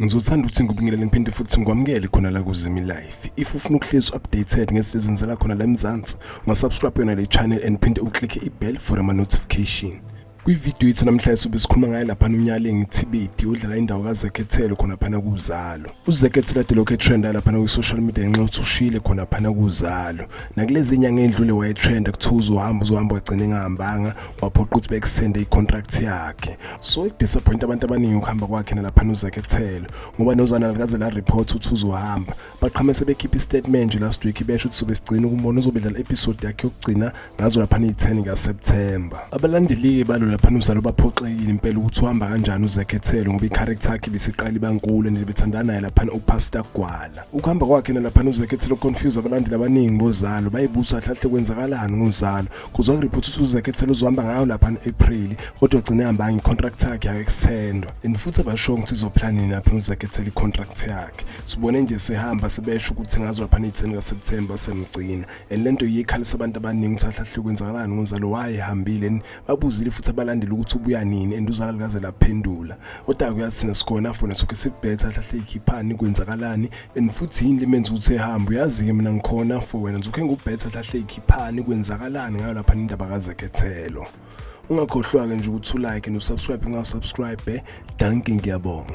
Ngizothanda ukuthi ngikubingelele ngiphinde futhi ngikwamukele khona la kuZimi Life. If ufuna ukuhlezi updated ngesizini zala khona la eMzansi, ungasubscribe yona le channel and phinde uclick i-bell for ama notification. Kwividiyo yethu namhlanje sobe sikhuluma ngaye lapha uNyalingi Thibidi odlala indawo kaZekhethelo khona phana kuZalo. UZekhethelo ade lokhu etrenda lapha kwi-social media ngenxa yokuthi ushile khona phana kuZalo. Nakulezi nyanga endlule wayetrenda kuthiwa uzohamba uzohamba wagcina engahambanga waphoqa ukuthi bekusende i-contract yakhe so ikudisappoint abantu abaningi ukuhamba kwakhe nalaphana uzakhethelo ngoba nozana likaze la report ukuthi uzohamba baqhame sebekhipha i-statement nje last week besho ukuthi sobe sigcina ukumbona uzobe dlala episode yakhe yokugcina ngazo laphana iyi-10 kaseptemba abalandeli-ke balo laphana uzalo baphoxekile impela ukuthi uhamba kanjani uzakhethelo ngoba i-character yakhe bisiqala ibankulu and bethandana naye laphana upastor gwala ukuhamba kwakhe nalaphana uzakhethelo confuse abalandeli abaningi bozalo bayibusa hlahle kwenzakalani ngozalo kuzwa ngireporta ukuthi uzekethela uzohamba ngayo lapha no-april kodwa gcine hambanga i-contract yakhe yaku-extendwa and futhi abasho ukuthi izoplanini lapha uzekethela i-contract yakhe sibone nje sihamba sibesho ukuthi ngazo lapha neyitheni kaseptemba semgcina and le nto yikhalisa abantu abaningi ukuthi ahlahle kwenzakalani ngozalo wayehambile and babuzile futhi abalandeli ukuthi ubuya nini and uzala likaze laphendula kodwa-ke uyathina sikhona fona sokhe sibhetha ahlahle ikhiphani kwenzakalani and futhi yini limenza ukuthi ehambe uyazi-ke mina ngikhona for wena nzukhe ngubhetha hlahle ikhiphani kwenzakalani ngayo lapha nindaba kazekhethelo ungakhohlwa-ke nje ukuthi ulike nosubscribe ungasubscribe danki ngiyabonga